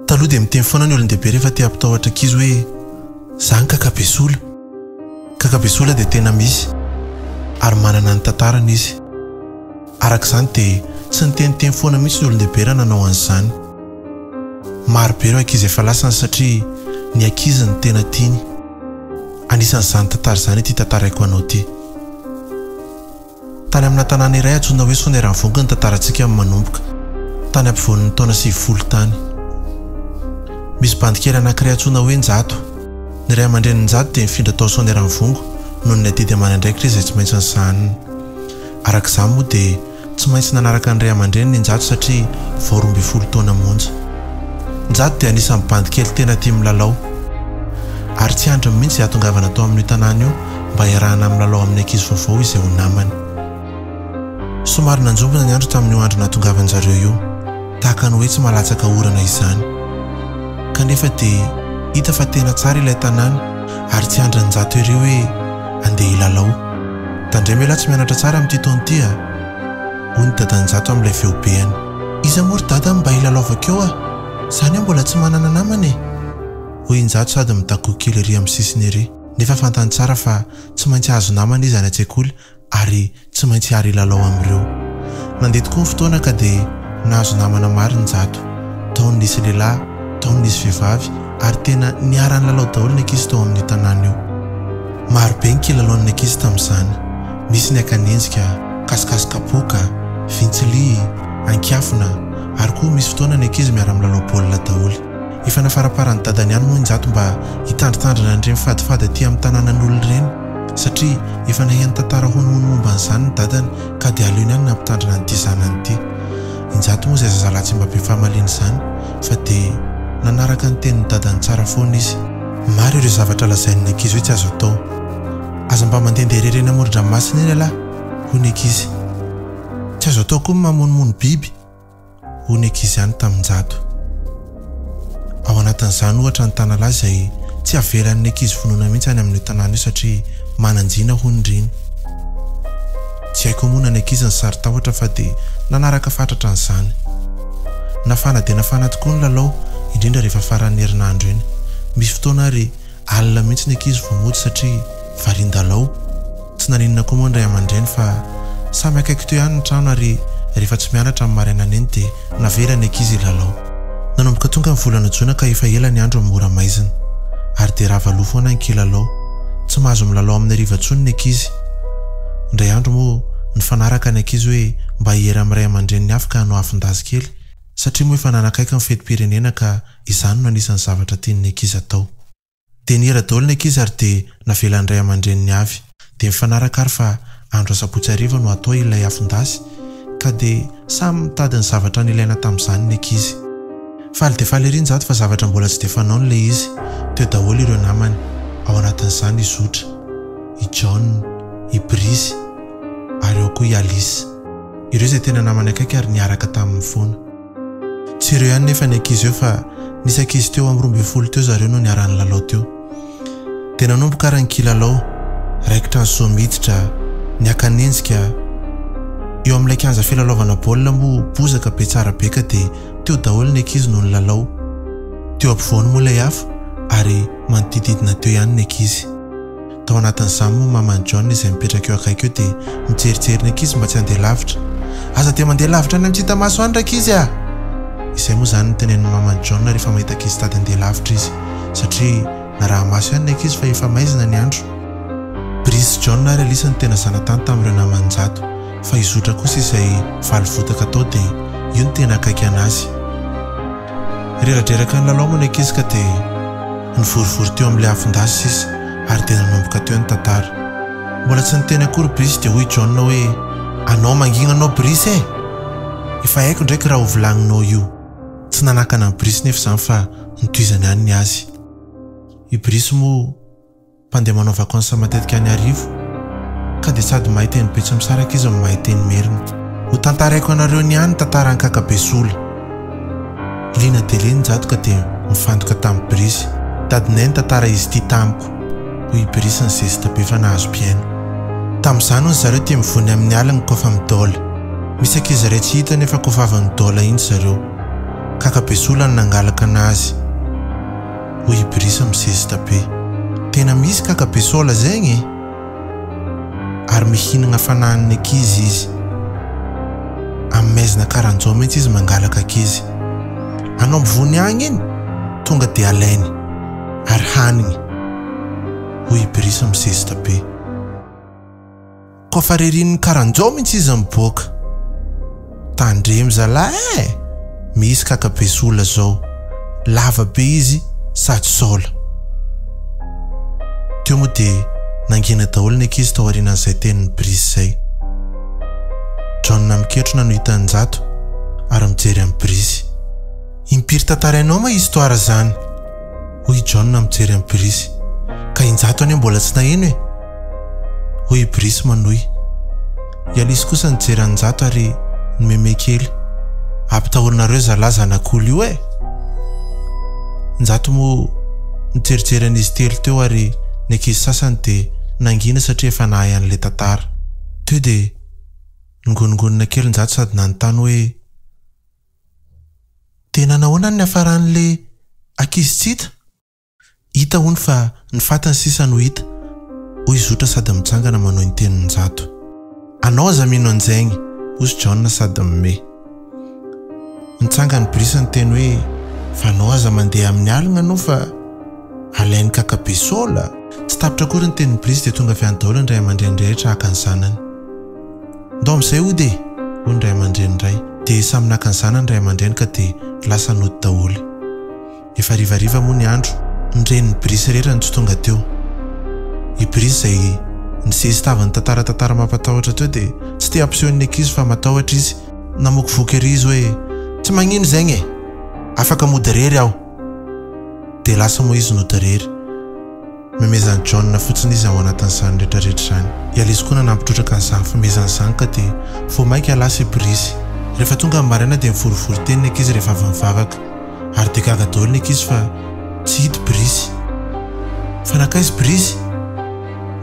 Taloha dia miteny foana ny olon-dehibe rehefa te hampitahotra ankizy hoe, Za ny kaka be sola. Kaka be sola dia tena misy ary manana ny tantarany izy. Araka izany dia tsy niteniteny foana mihitsy ny olon-dehibe raha nanao an'izany. Maro be ireo ankizy efa lasany satria ny ankizy no tena tiany. Anisan'izany tantara izany ity tantaraiko anao ity. Tany amina tanàna iray antsoina hoe Soneravongo ny tantarantsika no manomboka, tany ampovoan'ny taona sivifolo tany. Misy bandy kely anankiray antsoina hoe Njato. Ny ray aman-drenin'i Njato dia nifindra tao Soneravongo noho ny adidy aman'andraikitra izay tsy maintsy nisahaniny. Araka izany moa dia tsy maintsy nanaraka ny ray aman-dreniny i Njato satria vao roa ambin'ny folo taona monja. Njato dia anisan'ny bandy kely tena tia milalao. Ary tsy andriny mihitsy ihatongavana tao amin'io tanàna io mba hiarahana milalao amin'ny ankizy vaovao izay ho namany. Somary nanjombona ny andro tamin'io andro nahatongavan-dry zareo io, tahaka ny hoe tsy maha-latsaka orana izany. Kanefa dia hita fa tena tsara ilay tanàna ary tsy andrin'i Njato ery hoe handeha hilalao. Tandremo ialahy tsy mianatra tsara amin'ity taona ity a! hoy ny dadan'i Njato amin'ilay feobeany. Iza moa ry dada no mba hilalaovako eo a! Izaho anie mbola tsy manana namana e! hoy i Njato sady mitakoa kely ery amin'ny sisiny ery. nefa fantany tsara fa tsy maintsy hahazo namana izy any an-tsekoly ary tsy maintsy hiara hilalao amin'ireo. Nandeha tokoa ny fotoana ka dia nahazo namana maro ny Njato. Tao ny nisy lehilahy, tao ny nisy vehivavy ary tena niara-nilalao daholo ny ankizy tao amin'io tanàna io. Maro be ny kilalaon'ny ankizy tamin'izany, nisy ny akanenjika, kasikasy kapoaka, vintsilihy, ankiafina ary koa misy fotoana ny ankizy miara-milalao baolina daholo. Efa nafaraparan'i dadany ihany moa i Njato mba hitandritandrina an'ireny fadifady aty amin'ny tanànan'olona ireny satria efa nahay nitantara honohono momba an'izany ny dadany ka dia aleony ihany nampitandrina an'ity zanany ity. I Njato moa izay zazalahy tsy mba be fahamaliana izany fa dia nanaraka ny tenin'ny dadany tsara foana izy. Maro ireo zavatra lazain'ny ankizy hoe tsy azo atao. Aza mba mandehandeha irery eny amoron-dranomasina eny ialahy, hoy ny ankizy. Tsy azo atao koa ny mamonomono biby. hoy ny ankizy ihany tamin-jato. Ao anatin'izany, ohatra, ny tanalahy izay tsy avelan'ny ankizy vonona mihitsy any amin'io tanàna io satria manan-jina hoy ny riny. Tsy hay koa moa na ny ankizy ny saron-tahotra fa dia nanaraka fatratra an'izany. Nafana dia nafana tokoa ny lalao, indrindra rehefa faran'ny herinandro iny. Misy fotoana ary alina mihitsy ny ankizy vao mody satria varian-dalao. Tsy naninona koa moa ny ray aman-dreny fa samy akaiky teo ihany ny trano ary rehefa tsy mianatra ny marainana iny dia navela ny ankizy hilalao. Nanomboka tonga ny volana jona ka efa ela ny andro mora maizina ary dia rava loha foana ny kilalao. Tsy mahazo milalao amin'ny hariva intsony ny ankizy. Indray andro moa nifanaraka ny ankizy hoe mba hiera amin'ny ray aman-dreniny hafa ka hanao afon-dazy kely satria moa efa nanakaiky ny fetim-pirenena ka izany no anisan'ny zavatra tian'ny ankizy atao. Dia nihira daholo ny ankizy ary dia navelan'ny ray aman-dreniny avy. Dia mifanaraka ary fa andro asabotsy hariva no hatao ilay afon-dasy ka dia samy mitady ny zavatra nilaina tamin'izany ny ankizy. Faly dia faly ery njato fa zavatra mbola tsy dia fanaony ilay izy. Teo daholo ireo namany, ao anatin'izany i Zotra, i John, i Brice ary ao koa i Alice. Ireo izay tena namany akaiky ary niaraka taminy foana. Tsy ireo ihany nefa ny ankizy eo fa nisy ankizy teo amin'ny roa ambin'ny folo teo zareo no niara-nilalao teo. Dia nanomboka ary ny kilalao, raikitra ny soa miditra, ny hakanenjika. Eo amin'ilay kianja filalaovana baolina moa bozaka be tsara be ka dia teo daholo ny ankizy no nilalao. Teo ampovoany moa ilay afo ary manodididina teo ihany ny ankizy. Tao anatin'izany moa maman'i John izay mipetraka eo akaiky eo dia nijerijery ny ankizy mba tsy handeha lavitra. Aza dia mandeha lavitra any amin'ny tsy hita maso any rankizy a! Izay moa izany no tenenin'ny maman'i John rehefa mahita ankizy tady handeha lavitra izy satria naraha-maso ihany ny ankizy fa efa maizina ny andro. Brice sy John ary Alice no tena zanatany tamin'ireo namany njato fa i Zotra kosa izay valy votaka tao dia io no tena akaiky an'azy. Reradreraka nilalao moa ny ankizy ka dia nivorivory teo amin'ilay afon-dasy sisa ary dia nanomboka teo ny tantara. Mbola tsy niteny akory Brice dia hoy i John hoe, Anao mangina anao Brice e! Efa haiko ndraiky raha ho vilagninao io. Tsy nanakana an'i Brice nefa izany fa notohizany ihany ny azy. I Brice moa. Mpandeha manao vakansy matetika any Iarivo ka dia sady mahay teny Betsimisaraka izy no mahay teny Merina. Hotantaraiko anareo ny ahy ny tantaran'i Kakabesola. Liana dia liana i Njado ka dia mifantoka tamin'i Birisy. Dadinay nitantara izy ity tamiko, hoy i Birisy nizesta be fa nahazo mpihaino. Tamin'izany hono zareo tia mivony amin'ny alina koa fa midôla. Misy ankizy iray tsy hita nefa koa vavan'ny dôla iny zareo. Kakabesola no nangalakana azy. hoy i Brice misesita be. Tena misy kaka be sola zegny e! Ary mihinagna fanahin'ny ankizy izy. Amin'ny maizina karan'izao mintsy izy mangalaka ankizy. Anao mivony agny igny, tonga dia alainy, ary hanigny, hoy i Brice misesita be. Koa fa rerin'ny karanjao mintsy izy miboaka. Tandremo zalah eh! Misy kaka be sola zao. Lava be izy sady sola. Teo moa dia nangina daholo ny ankizy tao aorianan'izay tenin'i Brice izay. John miketrona no hitan'i Njato ary mijery an'i Brice. Impiry tantarainao ma histoire zany? hoy i John mijery an'i Brice. Ka injato anie mbola tsy naheno e! hoy i Brice manohy. I Alice kosa nijery an'injato ary nimeme kely. Ampitahorinareo zalahy zanak'olo io e! Injato moa nijerijery an'izy telo teo ary ny ankizy sasany dia nangina satria efa nahay an'ilay tantara. Teo dia ningonongonona kely injato sady nanontany hoe. Dia nanao ahoana ny niafaran'le ankizy tsy hita? Hita hono fa ny fatiny sisa no hita, hoy zotra sady mijangana manohy ny tenin'i Njato. Anao aza mino an'izegny, hozy Jaona sady mimehy. Nitsangan'i Brice niteny hoe, fa anao aza mandeha amin'ny aligna anao fa alain'ny kaka be sola! Tsy tapitra akory ny tenin'i Brice dia tonga avy any daholo ny ray aman-dreny rehetra haka ny zanany. Ndao amin'izay hody e! hoy ny ray aman-dreny iray. Dia samy naka ny zanany ny ray aman-dreny ka dia lasa nody daholo. Efa harivariva moa ny andro. Ny renin'i Brice irery no tsy tonga teo. I Brice izay nisesy tava nitantara tantara mampatahotra teo dia tsy te hampiseho ny ankizy fa matahotra izy. Namoky voky ery izy hoe, Tsy magnino zegny e! Afaka mody irery aho! Dia lasa moa izy nody irery. Memezan'i John fotsiny izy ao anatin'izany rehetrarehetra izany. I Alice koa nanampy trotraka ny zaham-pimezany izany ka dia vao mainka lasa hiborisy. Rehefa tonga ny maraina dia mivorivory teny ny ankizy rehefa avy mivavaka. Ary dia gaga daholo ny ankizy fa tsy hita i Brice. Fa nankaiza i Brice?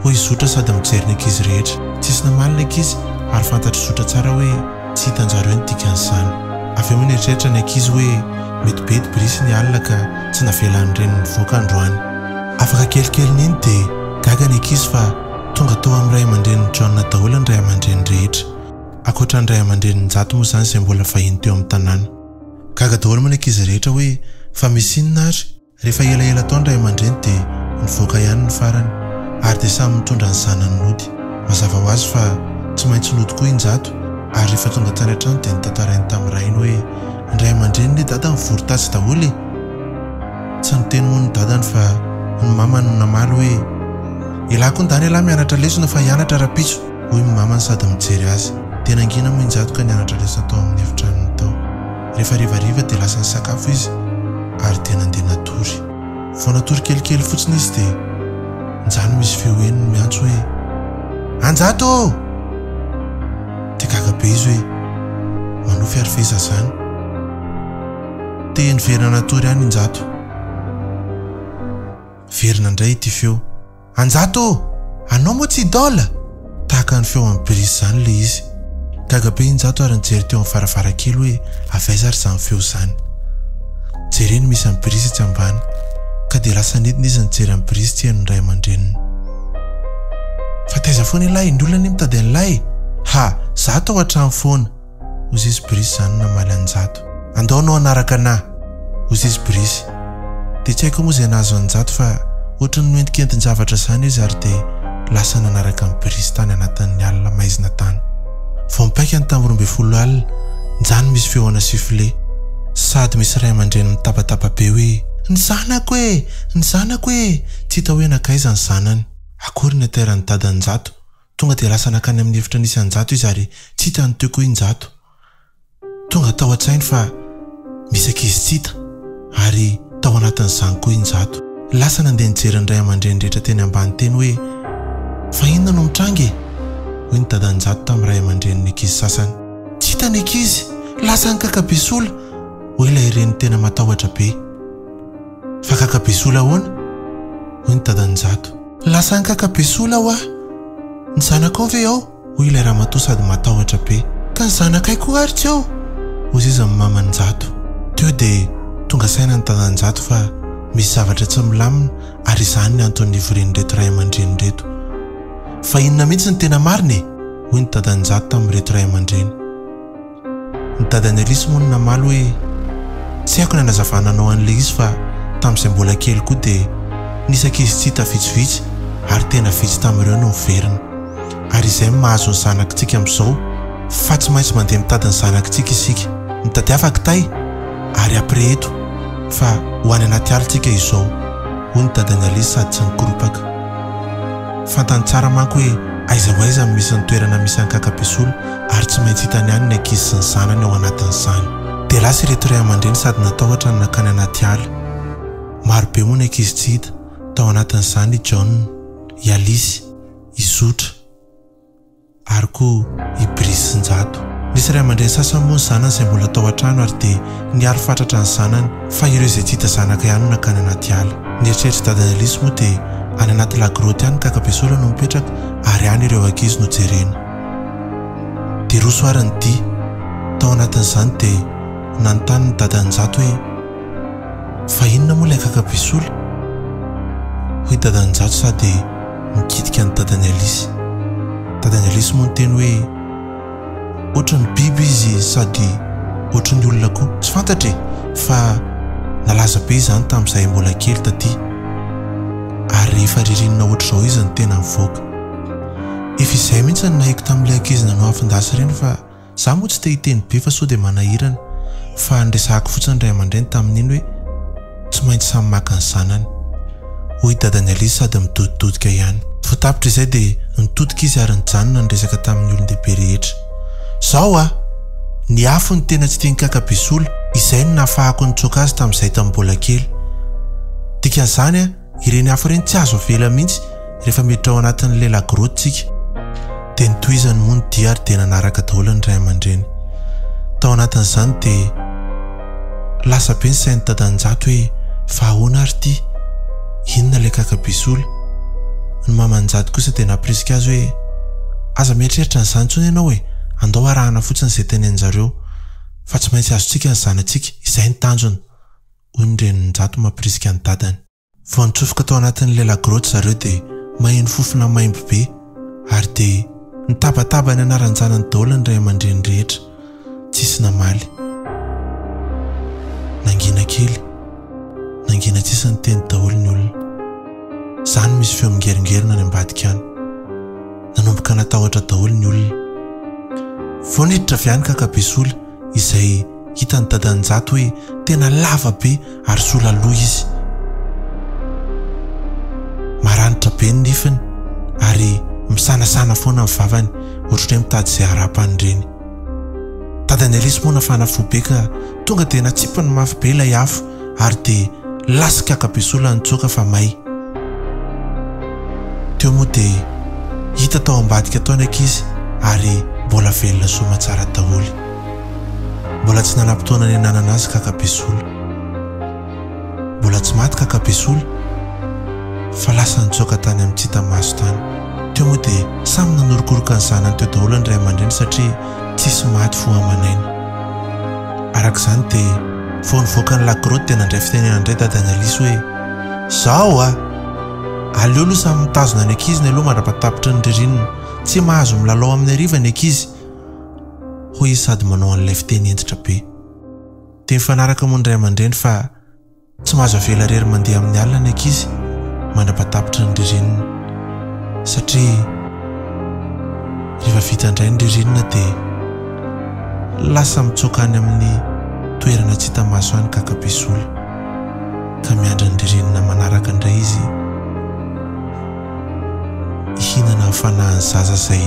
Hoy Zotra sady mijery ny ankizy rehetra. Tsisy namaly ny ankizy ary fantatr'i Zotra tsara hoe. Tsy hitanjareo ny dikan'izany. Avy eo nieritreritra ny ankizy hoe mety be dibrisy ny alina ka tsy navelan'ny reniny nivoaka androany. Afaka kelikelin'iny dia gaga ny ankizy fa tonga tao amin'ny ray aman-drenin'i John daholo ny ray aman-dreny rehetra. Ankoatra ny ray aman-dreny njato moa izany izay mbola vahiny teo amin'ny tanàna. Gaga daholo moa ny ankizy rehetra hoe fa misy inona ary? Rehefa elaela tao ny ray aman-dreny dia nivoaka ihany ny farany ary dia samy nitondra ny zanany nody. Mazava ho azy fa tsy maintsy nody koa i Njato ary rehefa tonga tany an-trano dia notantarainy tamin'ny rainy hoe, Ny ray aman-drenin'i dada nivory tatsy daholo e! Tsy niteny moa ny dadany fa ny mamany no namaly hoe, Elah koa ndany elah mianatra lesona fa hianatra rahampitso! hoy ny mamany sady mijery azy. Dia nangina moa i Njato ka nianatra lesona tao amin'ny efitranony tao. Rehefa revariva dia lasa nisakafo izy ary dia nandeha natory. Vao natory kelikely fotsiny izy dia nijanona misy feo henony miantso hoe, Anjato ô! Dia gaga be izy hoe, Manofy ary ve izaho izany? Te niverina natory ihany i Njato. Niverina indray ity feo. Anjato ô! Anao moa tsy idole? Tahaka ny feo an'i Brice izany ilay izy. Gaga be i Njato ary nijery teo amin'ny varavarankely hoe avy aiza ary izany feo izany. Jereny misy an'i Brice etsy ambany, ka dia lasa nidina izy nijery an'i Brice tsy henon'ny ray aman-dreniny. Fa taiza foana ilay? Ny olona anie mitady an'ilay e! Ha! Za tao an-trano foana. Ozizy Brice zany namaly an'i Njato. Andao anao hanaraka anà! Ozizy Brice. Dia tsy haiko moa izay nahazo an'i Njato fa ohatran'ny noentinkentin-javatra izany izy ary dia lasa nanaraka an'i Brice tany anatin'ny alina maizina tany. Vao mipaika ny tambo roa ambin'ny folo alina, nja no misy feo ana sifflet. Sady misy ray aman-dreny mitabataba be hoe. Ny zanako e! Ny zanako e! Tsy hita hoe nankaiza ny zanany. Akory ny ateran'i Dadan'i Njato. Tonga dia lasa nankany amin'ny efitra nisy an-jato izy ary tsy hita ny teo koa i Njato. Tonga tao an-tsainy fa misy ankizy tsy hita ary tao anatin'izany koa i Njato. Lasa nandeha nijery ny ray aman-dreny rehetra teny ambany teny hoe fa inona no mitranga e? hoy ny dadan'i Njato tamin'ny ray aman-drenin'ny ankizy sasany. Tsy hita ny ankizy, lasa any Kakabesola, hoy ilay reny tena matahotra be. Fa kakabesola ahoana? hoy ny dadan'Njato. Lasa nikakabesola hoa! Ny zanakao ve ao? hoy ilay ramatoa sady matahotra be. Ka ny zanakay koa ary tsy ao? hoy seza ny maman'Njato. Teo dia tonga saina ny dadan'Njato fa misy zavatra tsy milamina ary izany ny antony nivorian'ireto ray aman-dreny ireto. Fa inona mihitsy ny tena marina e? hoy ny dadan'Njato tamin'ireto ray aman-dreny. Ny dadan'i Alice moa no namaly hoe, Tsy haiko ny hanazavana anao an'ilay izy fa tamin'izay mbola kely koa dia nisy ankizy tsy hita vitsivitsy ary tena vitsy tamin'ireo no niverina. Ary izay no mahazo ny zanakitsika amin'izao fa tsy maintsy mandeha mitady ny zanakitsika isika. Mitadiava kitay ary après eto fa ho any anaty ala isika izao, hoy ny dadan'i Alice sady tsy nikoropaka. Fantany tsara manko hoe aiza ho aiza no misy ny toerana misy an'i Kakabesola ary tsy maintsy hitany any ny ankizy sy ny zanany ao anatin'izany. Dia lasa ireto ray aman-dreny sady natahotra no nankany anaty ala. Marobe moa ny ankizy tsy hita, tao anatin'izany i John, i Alice, i Zotra. ary koa i Brisinjato. Nisy ray aman-dreny sasany moa ny zanany izay mbola tao an-trano ary dia niaro fatratra ny zanany fa ireo izay tsy hita zanaka ihany no nankany anaty ala. Ny eritreritr'i dadan'i Alice moa dia any anaty la grotte any ny kakabesola no mipetraka ary any ireo ankizy no jerena. Dia roso ary ny dihy. Tao anatin'izany dia nanontany ny dadan'i Njato hoe. Fa inona moa ilay kaka be sola? hoy dadan'Njato sady nikitika ny dadan'i Alice. Dadan'i Alice moa niteny hoe, Ohatran'ny biby izy sady ohatran'ny olona koa. Tsy fantatra e! fa nalaza be izany tamin'izahay mbola kely taty ary rehefa ririnina ohatr'izao izy no tena mivoaka. Efa izahay mihitsy no nahiko tamin'ilay ankizy nanao afon-dasy ireny fa Za moa tsy te hiteny be fa sao dia manahirana fa niresahako fotsiny ny ray aman-dreny tamin'iny hoe tsy maintsy samy maka ny zanany. Hoy dadan'i Alice sady midodidodika ihany. Vao tapitra izay dia nitodika izy ary nijanona niresaka tamin'ny olon-dehibe rehetra. Zao a! Ny afo no tena tsy tian'i Kaka be sola, izay no nahafahako nitsoaka azy tamin'izahay tamin'ny mbola kely. Dikan'izany a! Ireny afo ireny tsy azo avela mihitsy rehefa miditra ao anatin'ilay lagrotte tsika. Dia nitohizany moa ny dia ary dia nanaraka daholo ny ray aman-dreny. Tao anatin'izany dia lasa be ny sain'i Dadanjato hoe fa ahoana ary ity? Inona ilay kakabe sola? Ny maman'Njato kosa dia nampirisika azy hoe aza mieritreritra an'izany intsony ianao e! Andao arahana fotsiny izay tenenin-jareo fa tsy maintsy azontsika ny zanatsika, izay ny tanjona. hoy ny renin-jato mampirisika ny dadany. Vao nitsofoka tao anatin'ny lela-grotte zareo dia maheno fofona maimbo be ary dia nitabataba ny anaran-janany daholo ny ray aman-dreny rehetra. Tsisy namaly. Nangina kely. Nangina tsisy niteny daholo ny olona. Za no misy feo mingeringerina any ambadika any. Nanomboka natahotra daholo ny olona. Vao niditra avy any kaka be sola. izay hitan'i Dadan'Njato hoe tena lava be ary sola loha izy. Maranitra be ny nifiny ary misanasana foana ny vavany ohatr'ireny mitady izay harapany ireny. Dadan'i Alice moa nafana fo be ka tonga dia natsipiny mafy be ilay afo ary dia lasa kaka be soa la nitsoaka fa may. Teo moa dia hita tao ambadika tao ny ankizy ary mbola velona soa aman-tsara daholo. Mbola tsy nanam-potoana niananana azy kaka be sola. Mbola tsy maty kaka be sola fa lasa nitsoaka tany amin'ny tsy hita maso tany. Teo moa dia samy nanorokoroka ny zanany teo daholo ny ray aman-dreny satria Tsisy maty fo aman'aina. Araka izany dia vao nivoaka ny La Grotte dia nandray fitenenana indray dadan'i Alice hoe, Izao a! Aleo aloha samy mitazona ny ankizy ny aloha mandra-patapitry ny ririnina. Tsy mahazo milalao amin'ny hariva ny ankizy. Hoy izy sady manao an'ilay fiteny hentitra be. Dia mifanaraka moa ny ray aman-dreny fa. Tsy mahazo avela irery mandeha amin'ny alina ny ankizy mandra-patapitra ny ririnina satria rehefa vita indray ny ririnina dia lasa mitsoaka any amin'ny toerana tsy hita maso any kakapisola ka miandry ny ririnina manaraka indray izy hihinana hafanahany zaza izay